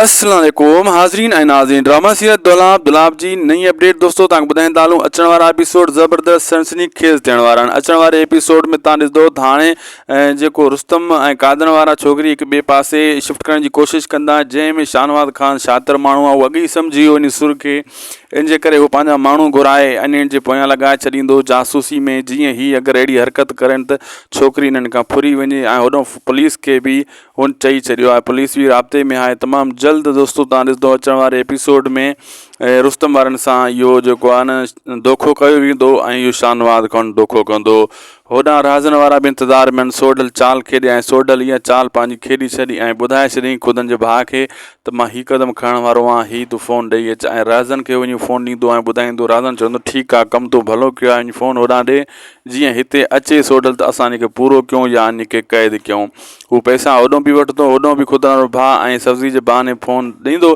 السلام عليڪم حاضرين ۽ ناظرين ڊرامه سيرت دولاب دولاب جي نئين اپڊيٽ دوستو تان ٻڌائين ته هلون اچڻ وارا ايپيسوڊ زبردست سنسني خيز ٿيڻ وارا آهن اچڻ واري ايپيسوڊ ۾ تان ڏسندو ته هاڻي جيڪو رستم ۽ قادن وارا ڇوڪري هڪ ٻئي پاسي شفٽ ڪرڻ جي ڪوشش ڪندا جنهن ۾ شاهنواز خان شاطر ماڻهو آهي هو اڳ ئي سمجهي ويو انهي سر کي ان جي ڪري هو پنهنجا ماڻهو گهرائي انهن جي پويان لڳائي ڇڏيندو جاسوسي ۾ جيئن هي اگر اهڙي حرڪت ڪرن ته ڇوڪري انهن کان ڦري وڃي ۽ هوڏانهن پوليس کي به هن چئي ڇڏيو آهي پوليس به رابطي ۾ آهي تمام جلد دوستو تان ڏسندو اچڻ واري ايپيسوڊ ۾ رستم وارن سان اهو جيڪو آهي نه دوکو ڪيو ويندو ۽ اهو شانواز کان دوکو ڪندو هوڏانهن رازن وارا به انتظار ۾ سوڍل چال کيڏي ۽ سوڍل اها چال پنهنجي کيڏي ڇڏي ۽ ٻڌائي ڇڏيائين خدن جي ڀاء کي ته مان هي قدم کڻڻ وارو آهيان هي تون فون ڏئي اچ ۽ رازن کي وڃي فون ڏيندو ۽ ٻڌائيندو رازن چوندو ٺيڪ آهي ڪم تون ڀلو ڪيو آهي وڃي فون هوڏانهن ڏي جيئن هتي اچي سوڍل ته اسان انيکي پورو ڪيون يا انيکي قيد ڪيون. هو پئسا هوڏهون به وٺندو هوڏهون به خدران رو ڀاء ۽ سبزي جي بهاني فون ڏيندو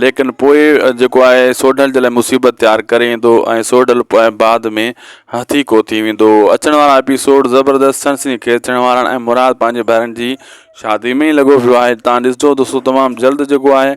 ليڪن پوء جيڪو آهي سوڍل جي لاء مصيبت تيار ڪري ايندو ۽ سوڍل پوء بعد ۾ هٿي ڪو ٿي ويندو. اچڻ وارا ايپيسوڊ زبردست سڻسڻي خيز ٿيڻ وارا آهن ۽ مراد پنهنجي ڀائرن جي شادي ۾ ئي لڳو پيو آهي تان ڏسجو دوستو تمام جلد جيڪو آهي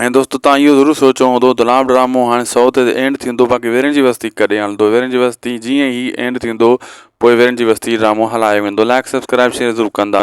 ۽ دوستو تان اهو ضرور سوچيو هوندو ته لام ڊرامو هاڻي سو تي اينڊ ٿيندو باقي ويرين جي وستي ڪڏهن هلندو ويرين جي وستي جيئن هي اينڊ ٿيندو پوء ويرين جي وستي ڊرامو هلايو ويندو لائڪ سبسڪرائب شيئر ضرور ڪندا